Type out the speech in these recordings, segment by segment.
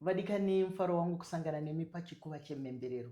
Vadikani, mufaro wangu kusangana nemi pachikuva chemhemberero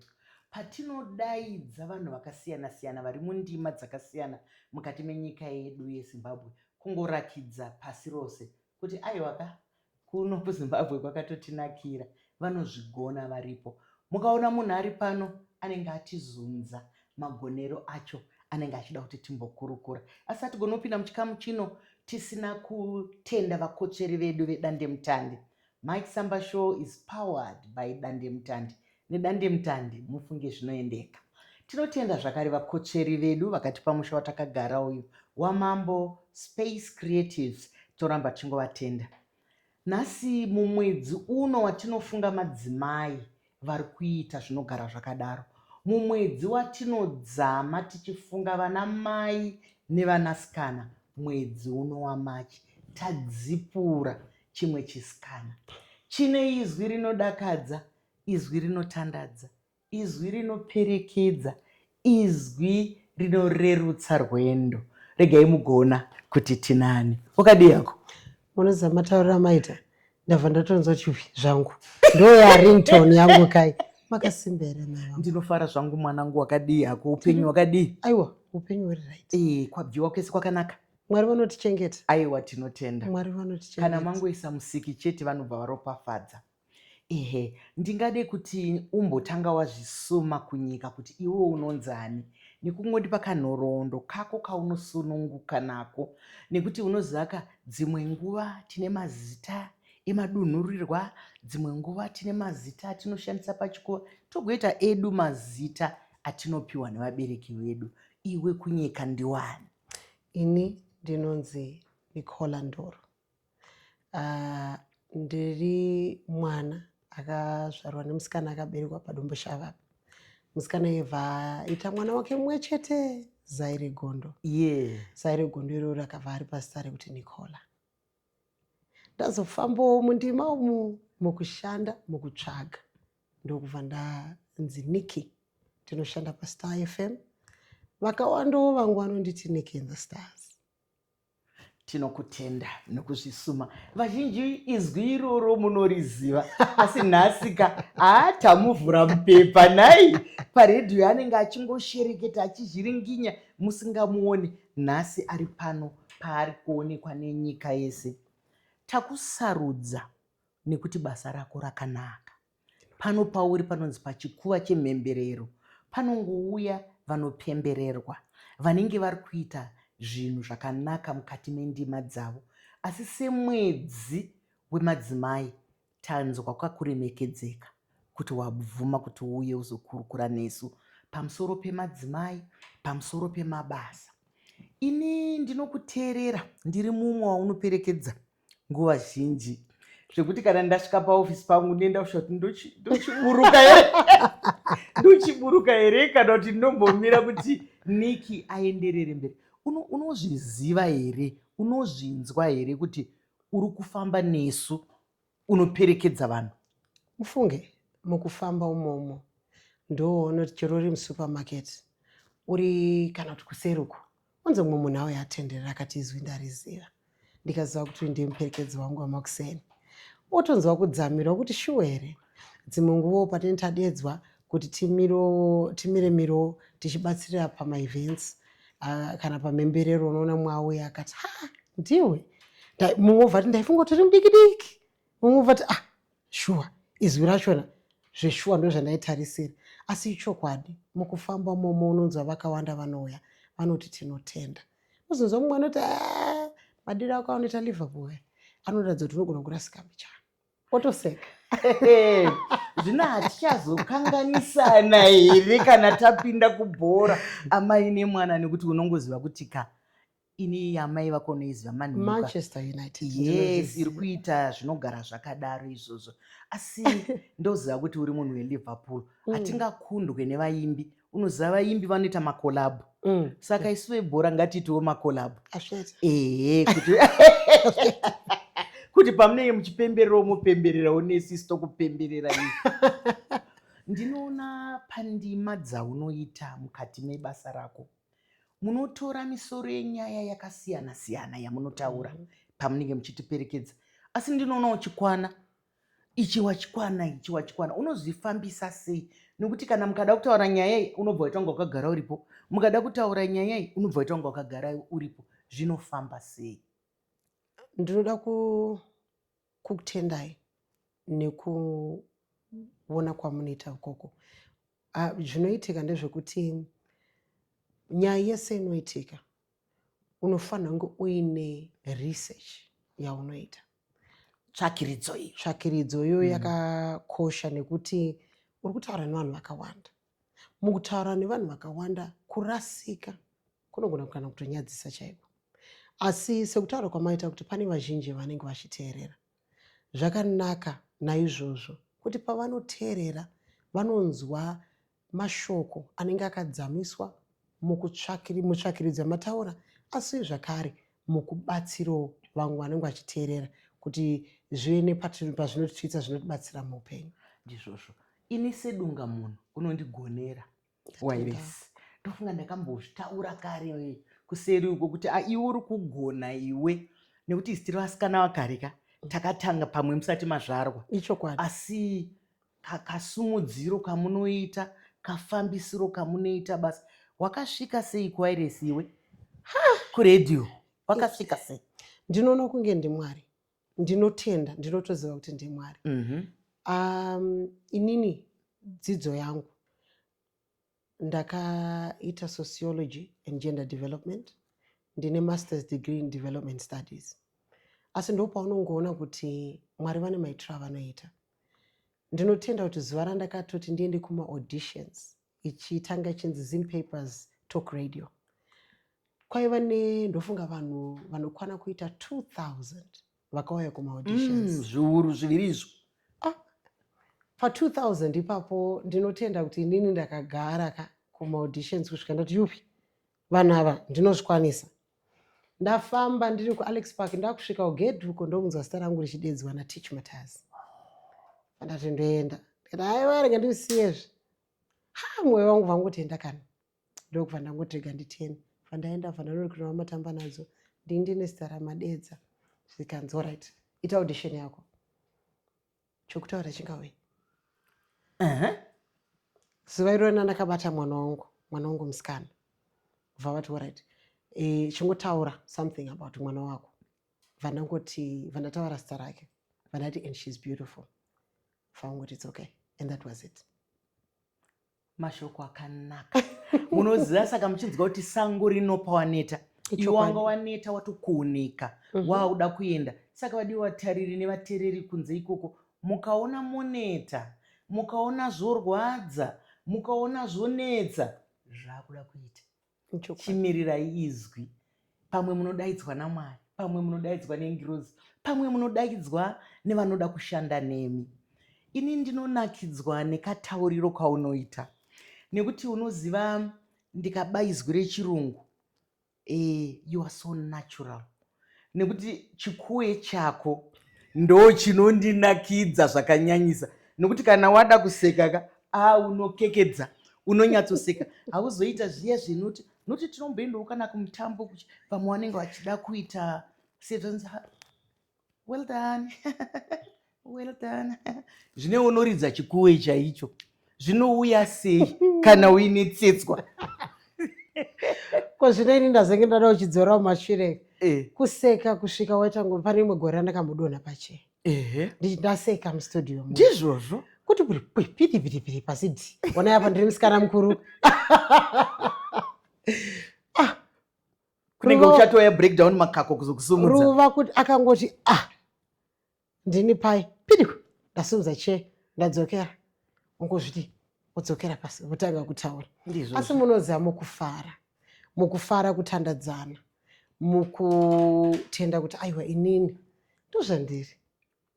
patinodaidza vanhu vakasiyana siyana vari mundima dzakasiyana mukati menyika yedu yezimbabwe kungorakidza pasi rose kuti aiwa ka kuno kuzimbabwe kwakatotinakira vanozvigona varipo mukaona munhu ari pano anenge atizunza magonero acho anenge achida kuti timbokurukura asi hatigoni kupinda muchikamu chino tisina kutenda vakotsveri vedu vedandemutande Mike Samba Show is powered by Dandemutande. Nedandemutande mufunge zvinoendeka. Tinotenda zvakare vakotsveri vedu vakatipa musha watakagara uyu waMambo Space Creatives, toramba tichingovatenda. Nhasi mumwedzi uno watinofunga madzimai, vari kuita zvinogara zvakadaro mumwedzi watinodzama tichifunga vana mai nevanasikana mwedzi uno wamachi tadzipura chimwe chisikana chine izwi rinodakadza izwi rinotandadza izwi rinoperekedza Izwi rinorerutsa rwendo. Regai mugona kuti tinani. Wakadii hako? Munoziva matauriro amaita ndabva ndatonzwa chihwi zvangu. Ndoya ringtone yangu kai. Makasimba here mama? Ndinofara zvangu mwanangu wakadii hako upenyu wakadii? Aiwa upenyu huri right. Eh, kwabviwa kwese kwakanaka. Mwari vanotichengeta. Aiwa tinotenda. Mwari vanotichengeta. Kana mangoisa musiki chete vanobva varopafadza. Ehe, ndingade kuti umbotanga wazvisuma kunyika kuti iwe unonzani nekungondipa kanhoroondo kako kaunosununguka nako nekuti unozivaka dzimwe nguva tine mazita emadunhurirwa dzimwe nguva tine mazita atinoshandisa pachikoro togoita edu mazita atinopiwa nevabereki vedu iwe kunyika ndiwani ini ndinonzi nicola ndoro Uh, ndiri mwana akazvarwa nemusikana akaberekwa padomboshava apa musikana yevha ita mwana wake mumwe chete zai regondo yeah. zai regondo iroro rakabva ari pazita rekuti nicola ndazofambawo mundima umu mukushanda mukutsvaga ndokubva ndanzi niki tinoshanda pastar fm vakawandawo vangu vanonditi niki in the stars tinokutenda nokuzvisuma vazhinji izwi iroro munoriziva asi nhasika haatamuvhura mupepa nhai paredhiyo anenge achingoshereketa achizhiringinya musingamuoni nhasi ari pano paari kuonekwa nenyika yese takusarudza nekuti basa rako rakanaka Pano pauri panonzi pachikuva chemhemberero panongouya vanopembererwa vanenge vari kuita zvinhu zvakanaka mukati mendima dzavo asi semwedzi wemadzimai tanzwa kakuremekedzeka kuti wabvuma kuti uuye uzokurukura nesu pamusoro pemadzimai pamusoro pemabasa ini ndinokuteerera ndiri mumwe waunoperekedza nguva zhinji zvekuti kana ndasvika paofisi pangu ndienda kusvika kuti ndochiburuka here ndochiburuka here kana kuti ndinombomira kuti niki aenderere mberi unozviziva here unozvinzwa here kuti uri kufamba nesu unoperekedza vanhu ufunge mukufamba umomo ndoona kuti chero uri musupermarket uri kana kuti kuseruko Kunze mumwe munhu auya atenderera akati izwi ndariziva ndikaziva kuti uyu ndiye muperekedzi wangu wamakuseni otonzwa kudzamira kuti shuwa here dzimwe nguvo patine tadedzwa kuti timire miro tichibatsirira pamaevents ah, kana pamhemberero unoona mumwe auya akati ha ndiwe mumwe ovati ndaifunga kuti uri mudiki diki mumwe ovati ah shuwa izwi rachona zveshuwa ndozvandaitarisira asi ichokwadi mukufamba momo unonzwa vakawanda vanouya vanoti tinotenda uzonzwa mumwe anoti ah, madiro ako anoita liverpool anoratidza kuti unogona kurasika mbichana otoseka zvino hatichazokanganisana here kana tapinda kubhora amai nemwana nekuti unongoziva kuti ka ini amai vako unoiziva manmanchester united yes iri kuita zvinogara zvakadaro izvozvo asi ndoziva kuti uri munhu weliverpool mm. hatingakundwe nevaimbi unoziva vaimbi vanoita makolabhu mm. saka isu vebhora ngatiitiwo makolabhu ehe kuti kuti pamunenge muchipemberera mupembererawo nesisu tokupemberera i ndinoona pandima dzaunoita mukati mebasa rako munotora misoro yenyaya yakasiyana siyana yamunotaura mm -hmm. pamunenge muchitiperekedza asi ndinoona uchikwana ichi wachikwana ichi wachikwana unozvifambisa sei nokuti kana mukada kutaura nyaya iyi unobva waita kunge wakagara uripo mukada kutaura nyaya iyi unobva waita kunge wakagara uripo zvinofamba sei ndinoda kukutendai nekuona kwamunoita ukoko Ah, zvinoitika ndezvekuti nyaya yese inoitika unofanira kunge uine research yaunoita tsvakiridzo iyi tsvakiridzo iyo mm. yakakosha nekuti uri kutaura nevanhu vakawanda mukutaura nevanhu vakawanda kurasika kunogona kana kutonyadzisa chaiko asi sekutaura kwamaita kuti pane vazhinji vanenge vachiteerera Zvakanaka naizvozvo kuti pavanoteerera vanonzwa mashoko anenge akadzamiswa mutsvakiridzi amataura asi zvakare mukubatsiro vamwe vanenge vachiteerera kuti zvive nepazvinotiitsa zvinotibatsira muupenyu ndizvozvo ini sedunga munhu unondigonera wairesi ndofunga ndakambozvitaura kare kuseri uko kuti ah, iwe uri kugona iwe nekuti isitiri vasikana vakare ka mm. takatanga pamwe musati mazvarwa ichokwadi asi kakasumudziro kamunoita kafambisiro kamunoita basa wakasvika sei kuwairesi iwe kuredio wakasvika sei ndinoona kunge ndimwari ndinotenda ndinotoziva kuti ndimwari mm -hmm. um, inini dzidzo yangu ndakaita sociology and gender development ndine masters degree in development studies asi ndo paunongoona kuti mwari vane maitiro avanoita ndinotenda kuti zuva randakatoti ndiende kumaauditions ichitanga ichinzi zim papers talk radio kwaiva ne ndofunga vanhu vanokwana kuita 2000 vakauya kumaauditions mm, zviuru zviviri izvo ah, pa2000 ipapo ndinotenda kuti inini ndakagara ka kumaauditions kusvika ndati yupi vanhu ava ndinozvikwanisa ndafamba ndiri kualex park ndakusvika kugedhi uko ndokunzwa zita rangu richidedzwa natich mataz andati ndoenda ndikati haiwa rega ndisiyezve ha mwoyo wangu vangotienda kana ndokubva ndangotirega nditeni vandaenda vandanorikurira vamatamba nadzo ndini ndine zita ramadedza zvikanzi orit ita audition yako chokutaura chingauye zuva irona ndakabata mwana wangu mwana wangu musikana bva vati orit e, chingotaura something about mwana wako vandangoti vandataura zita rake vandati and she's beautiful faungoti it's okay and that was it mashoko akanaka munoziva saka muchinzwa kuti sango rinopa waneta iwe wanga waneta watokuoneka mhm. waakuda kuenda saka vadiwa vatariri nevatereri kunze ikoko mukaona moneta mukaona zvorwadza mukaona zvonetsa zvaakuda kuita chimirirai izwi pamwe munodaidzwa namwari pamwe munodaidzwa nengirozi pamwe munodaidzwa nevanoda kushanda nemi ini ndinonakidzwa nekatauriro kaunoita nekuti unoziva ndikaba izwi rechirungu e, you are so natural nekuti chikuwe chako ndo chinondinakidza zvakanyanyisa nokuti kana wada kuseka ka a unokekedza unonyatsoseka hauzoita zviya zvinoti noti tinomboendawo kana kumutambo kuchi vamwe vanenge vachida kuita sezvanzi well done Well done. Zvine unoridza chikuwe chaicho zvinouya sei kana uine tsetswa ko zvino ini ndazenge ndada uchidzorawo mashure eh. kuseka kusvika waita ngo pane imwe gore randakambodonha pache ndaseka mustudio ndizvozvo kuti kuri piti piti piti pasi di ona yapa ndiri musikana mukuru ah. kunenge uchatoya breakdown makako kuzokusumudza ruva kuti akangoti ah ndini pai pidiku ndasimudza chee ndadzokera ungozviti udzokera pasi votanga kutaura asi munoziva mukufara mukufara kutandadzana mukutenda kuti aiwa inini ndozvandiri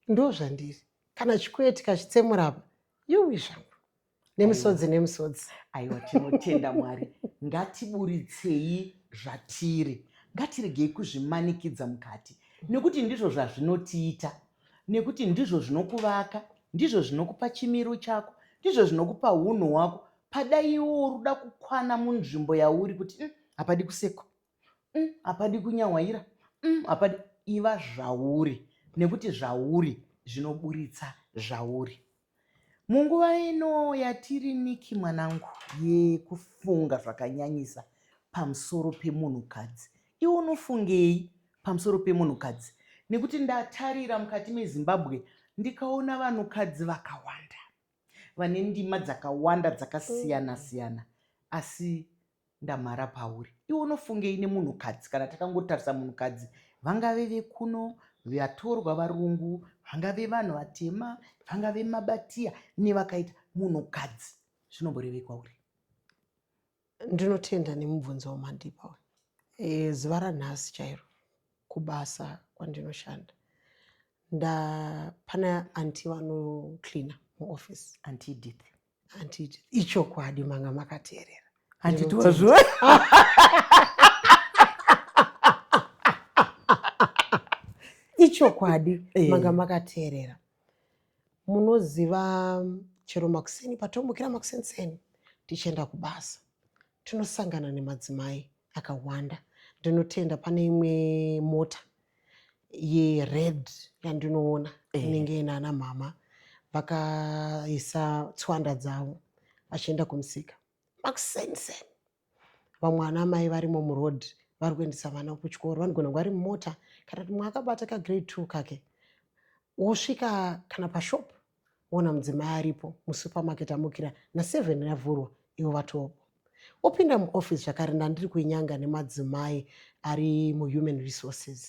ndozvandiri kana chikweti kachitsemurapa yuwi zvangu nemisodzi nemisodzi aiwa tinotenda mwari ngatiburitsei zvatiri ngatiregei kuzvimanikidza mukati nekuti ndizvo zvazvinotiita nekuti ndizvo zvinokuvaka ndizvo zvinokupa chimiro chako ndizvo zvinokupa unhu hwako pada iwo uruda kukwana munzvimbo yauri kuti mm, hapadi kusekwa mm, hapadi kunyawaira mm, hapadi iva zvauri nekuti zvauri zvinoburitsa zvauri Munguva ino yatiri Nicky mwanangu yekufunga zvakanyanyisa pamusoro pemunhukadzi. Iwe unofungei pamusoro pemunhukadzi nekuti ndatarira mukati meZimbabwe ndikaona vanhukadzi vakawanda vane ndima dzakawanda dzakasiyana siyana asi ndamhara pauri iwe unofungei nemunhukadzi kana takangotarisa munhukadzi vangave vekuno vatorwa varungu vangave vanhu vatema vangave mabatiya nevakaita munhukadzi zvinomborevei kwauri ndinotenda nemubvunzo wamandipa uyu e, zuva ranhasi chairo kubasa kwandinoshanda nda pana anti vanocleana muoffice anti edith handiti ichokwadi manga makateerera handiti wazviwa ichokwadi eh. manga makateerera munoziva chero makuseni patomukira makusenseni tichienda kubasa tinosangana nemadzimai akawanda ndinotenda pane imwe mota yered yandinoona eh. inenge eh. inana mhama vakaisa tswanda dzavo vachienda kumusika makusenisen vamwe ana mai varimo muroad vari kuendesa vana kuchikoro vanogona kunge vari mumota kana kuti mwe akabata kagrade two kake wosvika kana pashop Wona mudzimai aripo musupermarket amukira naseven yavhurwa ivo vatopo. Wopinda muoffice zvakare ndandiri kuinyanga nemadzimai ari muhuman resources.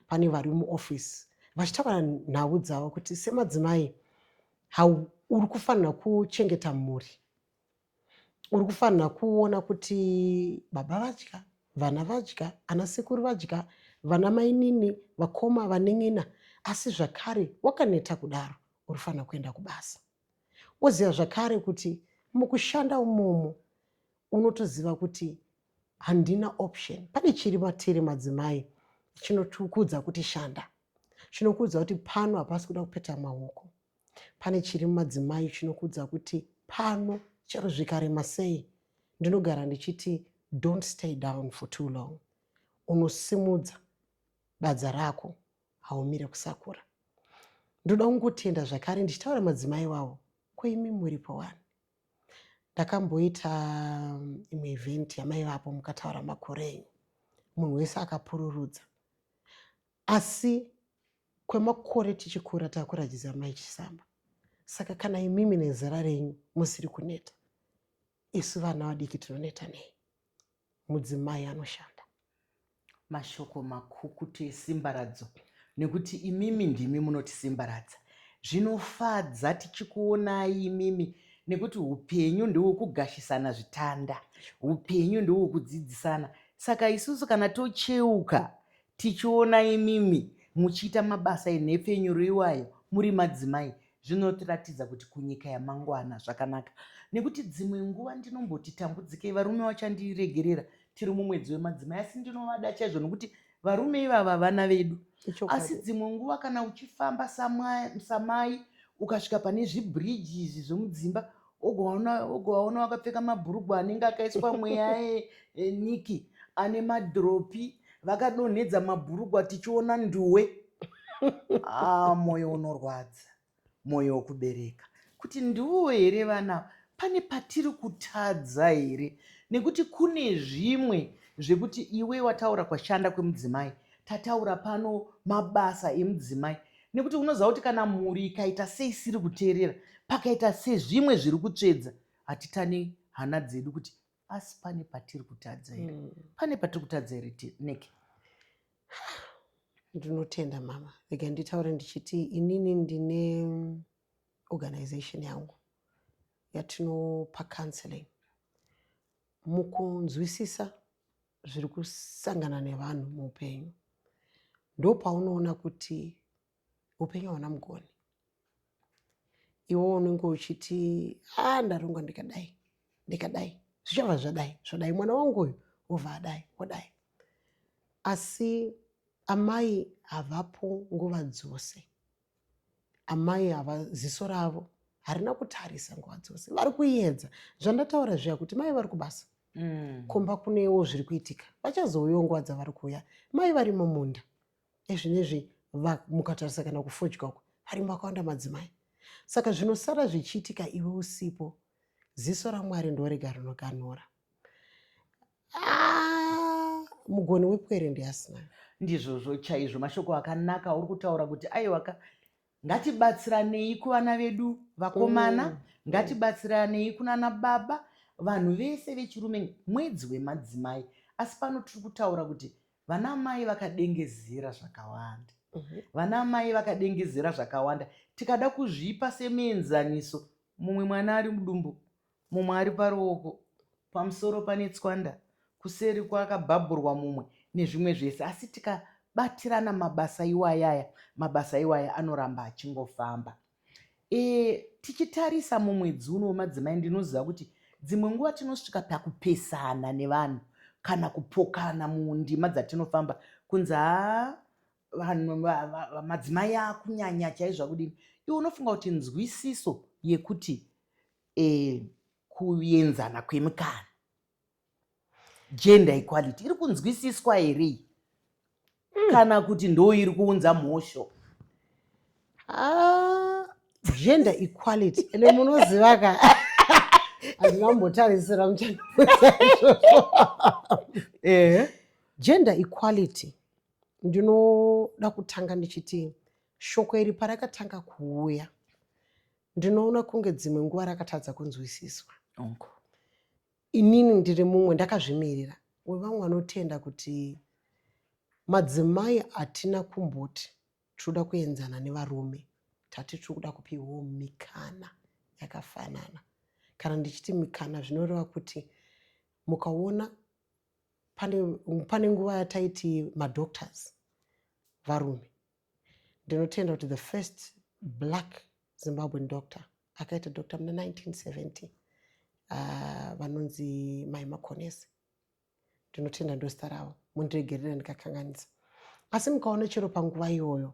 Pane vari muoffice vachitaura nhau dzavo kuti semadzimai how uri kufanira kuchengeta mhuri Uri kufanira kuona kuti baba vadya, vana vadya, ana sekuru vadya, vana mainini, vakoma, vanin'ina, asi zvakare wakaneta kudaro uri kufanira kuenda kubasa. Woziva zvakare kuti mukushanda umomo unotoziva kuti handina option. Pane chiri matiri madzimai chinotukudza kuti shanda, chinokuudza kuti pano hapasi kuda kupeta maoko. Pane chiri mumadzimai chinokuudza kuti pano chero zvikarema sei ndinogara ndichiti don't stay down for too long. Unosimudza badza rako haumire kusakura. Ndoda kungotenda zvakare ndichitaura madzimai wawo ko imi muripo wani. Ndakamboita um, imwe event yamaivapo mukataura makore enyu munhu wese akapururudza Asi kwemakore tichikura takurajidza mai Chisamba. Saka kana imimi nezera renyu musiri kuneta, isu vana vadiki tinoneta nei? Mudzimai anoshanda. Mashoko makukutu esimbaradzo nekuti imimi ndimi munotisimbaradza. Zvinofadza tichikuonai imimi nekuti upenyu ndewekugashisana zvitanda. Upenyu ndewekudzidzisana. Saka isusu kana tocheuka Tichiona imimi muchiita mabasa enhepfenyuro iwayo muri madzimai zvinotiratidza kuti kunyika yamangwana zvakanaka nekuti dzimwe nguva ndinomboti tambudzikei varume vachandiregerera tiri mumwedzi wemadzimai asi ndinovada chaizvo nekuti varume ivava vana vedu asi dzimwe nguva kana uchifamba samai ukasvika pane zvibridge izvi zvemudzimba ugovaona vakapfeka mabhurugwa anenge akaiswa mweya eh, eh, niki ane madhiropi vakadonhedza mabhurugwa tichiona nduwe ah, mwoyo unorwadza mwoyo wokubereka kuti ndiwo here vana pane patiri kutadza here nekuti kune zvimwe zvekuti iwe wataura kwashanda kwemudzimai tataura pano mabasa emudzimai nekuti unoziva kuti kana mhuri ikaita seisiri kuteerera pakaita sezvimwe zviri kutsvedza hatitane hana dzedu kuti asi pane patiri kutadza here mm. pane patiri kutadza here neke ndinotenda mama rega nditaure ndichiti inini ndine organization yangu yatinopa counseling mukunzwisisa zviri kusangana nevanhu muupenyu ndopaunoona kuti upenyu hauna mugoni iwo unenge uchiti a ah, ndarongwa ndikadai ndikadai zvichava zvadai zvodai mwana wangu uyu wobva adai wodai asi amai havapo nguva dzose Amai ava ziso ravo harina kutarisa nguva dzose vari kuedza zvandataura zviya kuti mai vari kubasa mm. kumba kunewo zviri kuitika vachazouyawo nguva dzavari kuuya mai vari mumunda ezvinezvi mukatarisa kana kufodya uko varimo vakawanda madzimai saka zvinosara zvichiitika iwe usipo ziso ramwari ndorega rinoganhura Ah, mugoni wepwere ndiasina ndizvozvo chaizvo mashoko akanaka auri kutaura kuti aiwaka ngatibatsiranei kuvana vedu vakomana mm. ngatibatsiranei kunana baba vanhu vese vechirume mwedzi wemadzimai asi pano tiri kutaura kuti vana mai vakadengezera zvakawanda mhm. vana mai vakadengezera zvakawanda tikada kuzvipa semuenzaniso mumwe mwana ari mudumbu Mumwe ari paruoko, pamusoro pane tswanda, kuseri kwakabhabhurwa mumwe, nezvimwe zvese. Asi tikabatirana mabasa iwaya aya, mabasa iwaya anoramba achingofamba. E, tichitarisa mumwedzi uno wemadzimai, ndinoziva kuti dzimwe nguva tinosvika pakupesana nevanhu kana kupokana mundima dzatinofamba kunzi haa vanhu madzimai akunyanya chaizvo akudini iwe unofunga kuti nzwisiso yekuti e, kuenzana kwemikana gender equality iri kunzwisiswa here mm. kana kuti ndo iri kuunza mhosho ah, gender equality ende munoziva ka handina kumbotarisira muchana eh. gender equality ndinoda kutanga ndichiti shoko iri parakatanga kuuya ndinoona kunge dzimwe nguva rakatadza kunzwisiswa Unko. inini ndiri mumwe ndakazvimirira wevamwe vanotenda kuti madzimai hatina kumboti tinoda kuenzana nevarume tati tiri kuda kupiwawo mikana yakafanana kana ndichiti mikana zvinoreva kuti mukaona pane, pane nguva yataiti madoctors varume Ndinotenda kuti the first black Zimbabwean doctor akaita doctor muna 1970 uh, vanonzi Mai Makonesi. Ndinotenda ndozita ravo, mundiregerera ndikakanganisa. Asi mukaona chero panguva iyoyo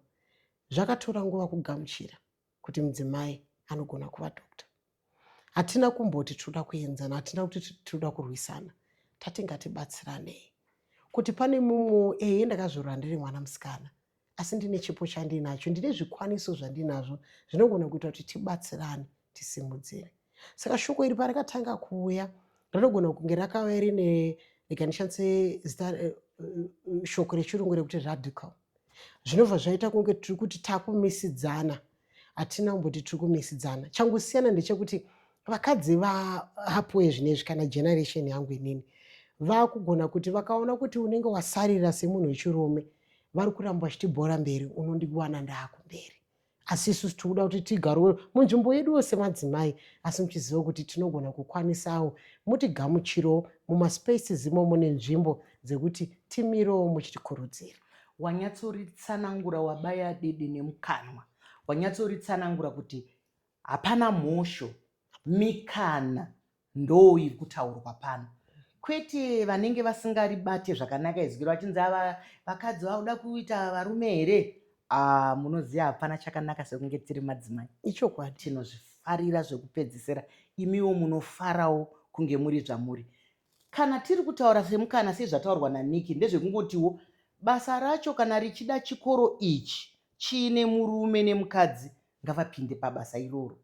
zvakatora nguva kugamuchira kuti mudzimai anogona kuva doctor hatina kumboti tinoda kuenzana hatina kuti tinoda kurwisana tati ngatibatsiranei kuti pane mumwewo eye ndakazorora ndiri mwana musikana asi ndine chipo chandinacho ndine zvikwaniso zvandinazvo zvinogona kuita kuti tibatsirane tisimudzire saka shoko iri parakatanga kuuya rinogona kunge rakauya rine rikanishandise zita eh, eh, shoko rechirungu rekuti radical zvinobva zvaita kunge tiri kuti takumisidzana hatina kumboti tiri kumisidzana changosiyana ndechekuti vakadzi vahapuwe zvinezvi kana generation yangu inini vakugona kuti vakaona kuti unenge wasarira semunhu wechirume vari kuramba vachitibhora mberi unondiwana ndaakumberi asi isusu tiri kuda kuti tigarowe munzvimbo yedu yose madzimai asi muchiziva kuti tinogona kukwanisawo mutigamuchiro mumaspaces imomo nenzvimbo dzekuti timirewo muchitikurudzira wanyatsoritsanangura wabaya dede nemukanwa wanyatsoritsanangura kuti hapana mhosho mikana ndoo iri kutaurwa pano kwete vanenge vasingaribate zvakanaka izwi vachinzi ava vakadzi vakuda kuita varume here ah, munoziva hapana chakanaka sekunge tiri madzimai ichokwadi tinozvifarira zvekupedzisira imiwo munofarawo kunge muri zvamuri kana tiri kutaura semukana sezvataurwa naniki ndezvekungotiwo basa racho kana richida chikoro ichi chiine murume nemukadzi ngavapinde pabasa iroro.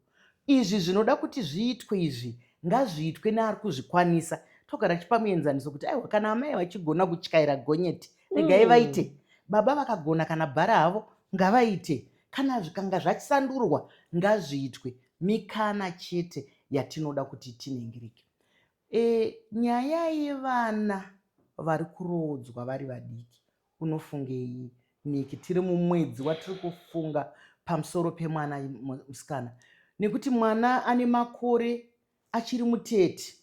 Izvi zvinoda kuti zviitwe izvi ngazviitwe neari kuzvikwanisa togara tichipa muenzaniso kuti aiwa kana amai vachigona kutyaira gonyeti regai mm. vaite baba vakagona kana bhara havo ngavaite kana zvikanga zvachisandurwa ngazviitwe mikana chete yatinoda kuti tiningirike e, nyaya yevana vari kuroodzwa vari vadiki Unofungei Nicky tiri mumwedzi watiri kufunga pamusoro pemwana musikana nekuti mwana ane makore achiri mutete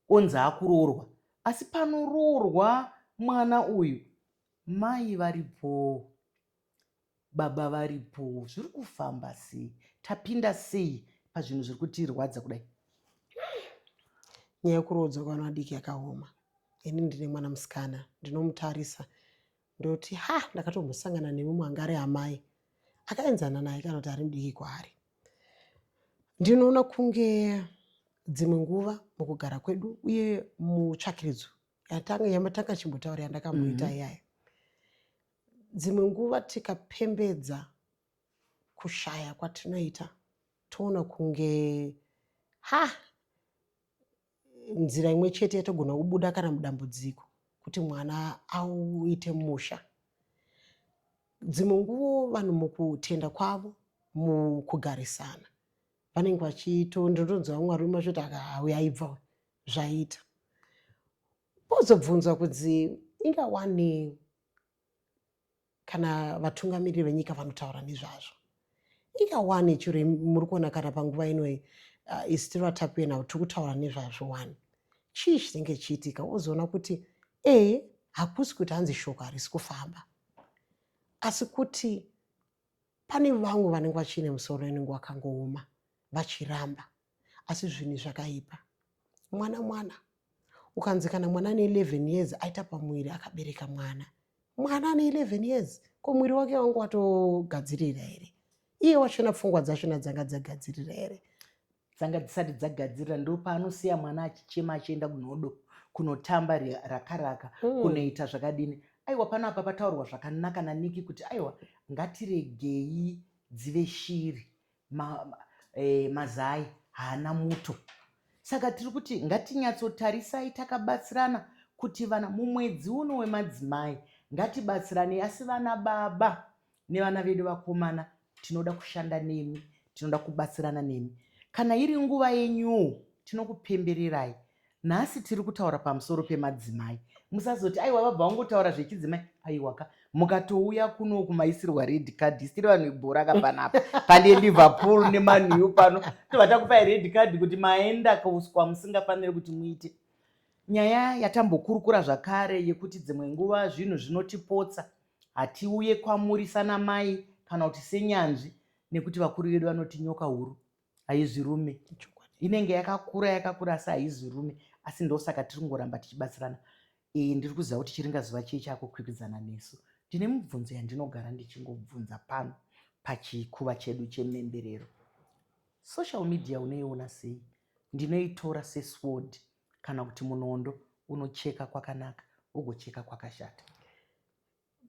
onzi akuroorwa asi panoroorwa mwana uyu mai varipoo. Baba varipo zviri kufamba sei tapinda sei pazvinhu zviri kutirwadza kudai nyaya yekuroodza kwevana vadiki yakaoma ini ndine mwana musikana ndinomutarisa ndoti ha ndakatombosangana nemumwe anga ari amai akaenzana naye kana kuti ari mudiki kwaari ndinoona kunge dzimwe nguva mukugara kwedu uye mutsvakiridzo yamatanga chimbotaura yandakamuita mm -hmm. iyayo Dzimwe nguva tikapembedza kushaya kwatinoita toona kunge ha nzira imwe chete yatogona kubuda kana mudambudziko kuti mwana auite musha. Dzimwe nguvo vanhu mukutenda kwavo mukugarisana vanenge vachiito ndinotonzwa vamwe varume vachiti akaauya aibva zvaita pozobvunzwa kunzi inga wani kana vatungamiriri venyika vanotaura nezvazvo ika one chiri muri kuona kana panguva inoi uh, is still atakuye now tiri kutaura nezvazvo one chii chinenge chiitika wozoona kuti e hakusi kuti hanzi shoko harisi kufamba asi kuti pane vamwe vanenge vachiine musoro inenge wakangooma vachiramba asi zvinhu zvakaipa mwana mwana ukanzi kana mwana ane 11 years aita pamuviri akabereka mwana mwana ane 11 years ko muviri wake wangu watogadzirira here iye wachona pfungwa dzachona dzanga dzagadzirira here dzanga dzisati dzagadzirira ndo paanosiya mwana achichema achienda kunodo kunotamba rakaraka mm. kunoita zvakadini aiwa pano apa pataurwa zvakanaka naniki kuti aiwa ngatiregei dzive shiri ma, ma, e, mazai haana muto saka tiri kuti ngatinyatsotarisai takabatsirana kuti vana mumwedzi uno wemadzimai ngatibatsirane asi vana baba nevana vedu vakomana tinoda kushanda nemi tinoda kubatsirana nemi kana iri nguva yenyuwo tinokupembererai nhasi tiri kutaura pamusoro pemadzimai musazoti aiwa vabva vangotaura zvechidzimai aiwaka mukatouya kuno kumaisirwa red card isiri vanhu ibhora ka panapa pane liverpool nemanew pano tobva takupai red card kuti maenda kauswa musingafaniri kuti muite nyaya yatambokurukura zvakare yekuti dzimwe nguva zvinhu zvinotipotsa hatiuye kwamuri sanamai kana kuti senyanzvi nekuti vakuru vedu vanoti nyoka huru haizi rume inenge yakakura yakakura asi haizi rume asi ndosaka tiri kungoramba tichibatsirana iyi ndiri kuziva kuti chiringa zuva chii chakukwikwidzana nesu ndine mubvunzo yandinogara ndichingobvunza pano pachikuva chedu chememberero social media unoiona sei ndinoitora sesword kana kuti munondo unocheka kwakanaka ugocheka kwakashata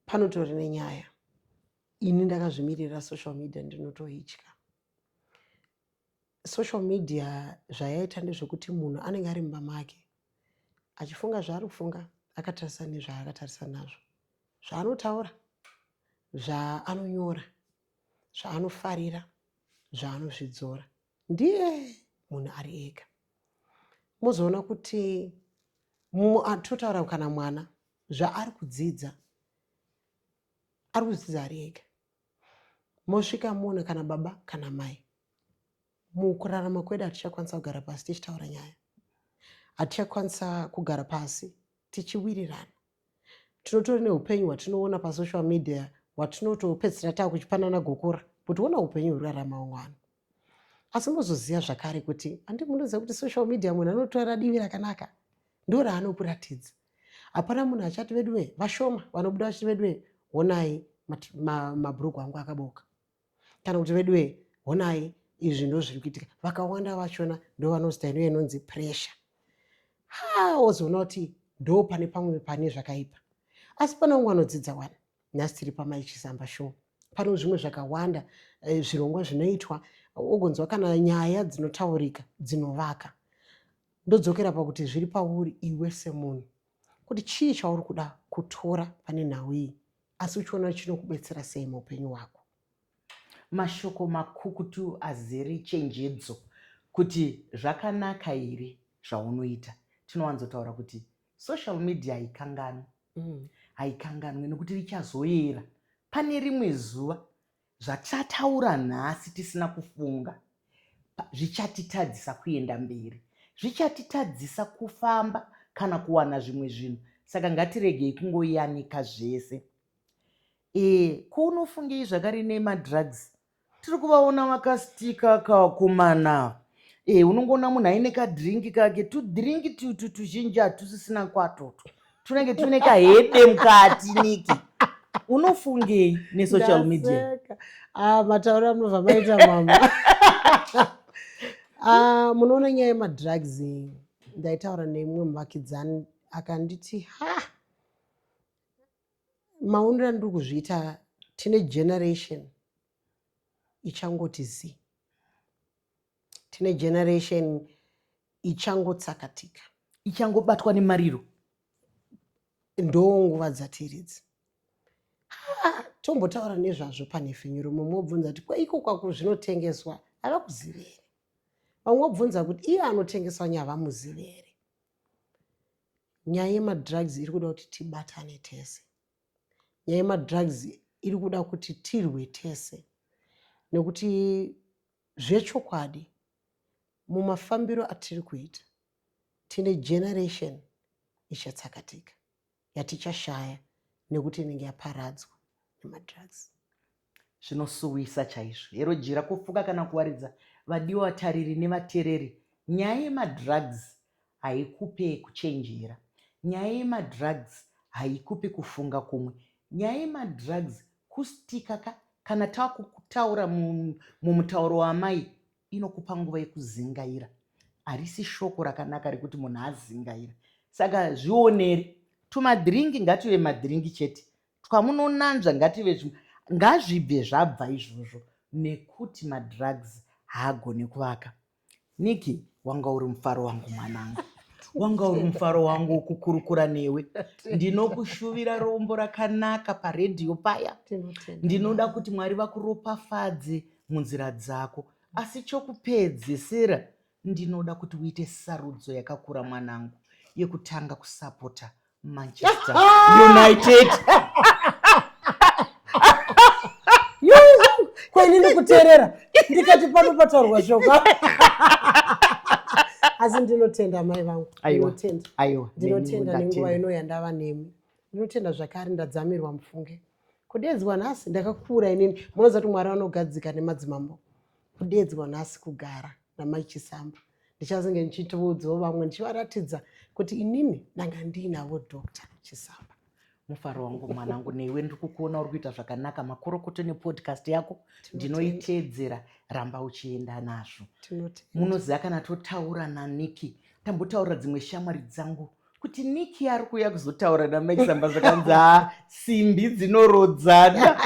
panotori nenyaya ini ndakazvimirira social media ndinotoitya social media zvayaita ndezvekuti munhu anenge ari mumba make achifunga zvaari kufunga akatarisa nezvaakatarisa nazvo zvaanotaura zvaanonyora zvaanofarira zvaanozvidzora ndiye munhu ari ega mozoona kuti totaura kana mwana zvaari kudzidza ari kudzidza ari ega mosvika moona kana baba kana mai mukurarama kwedu hatichakwanisa kugara pasi tichitaura nyaya hatichakwanisa kugara pasi tichiwirirana tinotori neupenyu hwatinoona pasocial media hwatinotopedzisira taa kuchipanana gokora kuti wona upenyu hurarama umwe vanhu asi unozoziva zvakare kuti handi munoziva kuti social media munhu anotora divi rakanaka ndo raanokuratidza hapana munhu achati veduwe vashoma vanobuda vachiti veduwe honai mabhuruku ma, ma angu akaboka kana kuti veduwe honai izvi ndo zviri kuitika vakawanda vachona ndo vanozita ino inonzi pressure ha wozoona kuti ndo pane pamwe pane zvakaipa asi pane umwe anodzidza wani nhasi tiri pamai chisamba show pano zvimwe zvakawanda eh, zvirongwa zvinoitwa ogonzwa kana nyaya dzinotaurika dzinovaka ndodzokera pakuti zviri pauri iwe semunhu kuti chii chauri kuda kutora pane nhau iyi asi uchiona chinokubetsera sei muupenyu hwako mashoko makukutu azere chenjedzo kuti zvakanaka here zvaunoita tinowanzotaura kuti Social media haikanganwi mm. haikanganwe nekuti richazoyera pane rimwe zuva zvatataura nhasi tisina kufunga zvichatitadzisa kuenda mberi zvichatitadzisa kufamba kana kuwana zvimwe zvinhu saka ngatiregei kungoyanika zvese e, ko unofungei zvakare nemadrugs Tiri kuvaona vakastika kakomana eh, unongoona munhu aine kadhiringi kake tudhiringi tutu tuzhinji hatusisina kwatoto tunenge tuine kahede mukati niki unofungei nesocial media Ndaseka. Ah, mataura munobva maita mama Ah, munoona nyaya yemadrugs iyi ndaitaura nemumwe muvakidzani akanditi ha Maonero andiri kuzviita tine generation ichangoti zii. Tine generation ichangotsakatika. Ichangobatwa nemariro. Ndonguva dzatiri idzi. Tombotaura nezvazvo panhefenyuro mumwe obvunza kuti kweiko kwako zvinotengeswa havakuzivi here? Vamwe obvunza kuti iye anotengesa nyava muzivi here? Nyaya yemadrugs iri kuda kuti tibatane tese. Nyaya yemadrugs iri kuda kuti tirwe tese nekuti zvechokwadi mumafambiro atiri kuita tine generation ichatsakatika. yatichashaya nekuti inenge yaparadzwa nemadrugs zvinosuwisa chaizvo hero jira kufuka kana kuwaridza vadiwa vatariri nevatereri nyaya yemadrugs haikupe kuchenjera nyaya yemadrugs haikupe kufunga kumwe nyaya yemadrugs kustika ka kana takutaura mumutauro wamai inokupa nguva yekuzingaira harisi shoko rakanaka rekuti munhu azingaira saka zvioneri tumadhiringi ngative madhiringi chete twamunonanzva ngative zvimwe ngazvibve zvabva izvozvo nekuti madrugs haagone kuvaka niki wanga uri mufaro wangu mwanangu wanga uri mufaro wangu wokukurukura newe ndinokushuvira rombo rakanaka paredhiyo paya ndinoda kuti mwari vakuropafadze munzira dzako asi chokupedzesera ndinoda kuti uite sarudzo yakakura mwanangu yekutanga kusapota manchester united kwaini ndikuteerera ndikati pano pataurwa shoka asi ndinotenda mai vangu ndinotenda ndinotenda nenguva ino yandava nemi ndinotenda zvakare ndadzamirwa mufunge kudeedzwa nhasi ndakakura inini munoziva kuti mwari vanogadzika nemadzimambo kudeedzwa nhasi kugara namai chisamba ndichazenge ndichitoudzawo vamwe ndichivaratidza kuti inini ndanga ndiinavo doctor chisamba mufaro wangu mwanangu newe ndiri kukuona uri kuita zvakanaka makorokoto nepodcast yako ndinoiteedzera ramba uchienda nazvo munoziva kana totaura naniki tambotaurira dzimwe shamwari dzangu kuti niki ari kuuya kuzotaura namaisamba zvakanzi ha simbi dzinorodzana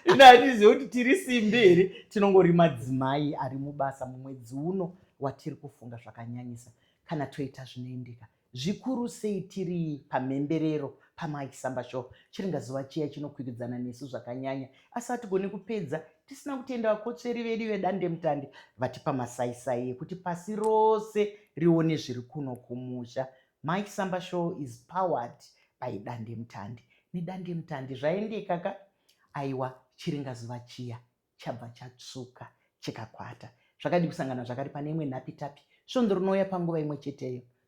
ino hatizive kuti tiri simbi here tinongori madzimai ari mubasa mumwedzi uno watiri kufunga zvakanyanyisa kana toita zvinoendeka zvikuru sei tiri pamhemberero pamaisamba sho chiringa zuva chiya chinokwiridzana nesu zvakanyanya asi hatigoni kupedza tisina kutenda vakotsveri vedu vedandemutande vatipa masaisai ekuti pasi rose rione zviri kuno kumusha mike samba show is powered by dandemutande nedandemutande zvaendeka ka aiwa chiringazuva chiya chabva chatsvuka chikakwata zvakadi kusangana zvakari pane imwe nhapitapi svondo rinouya panguva imwe cheteyo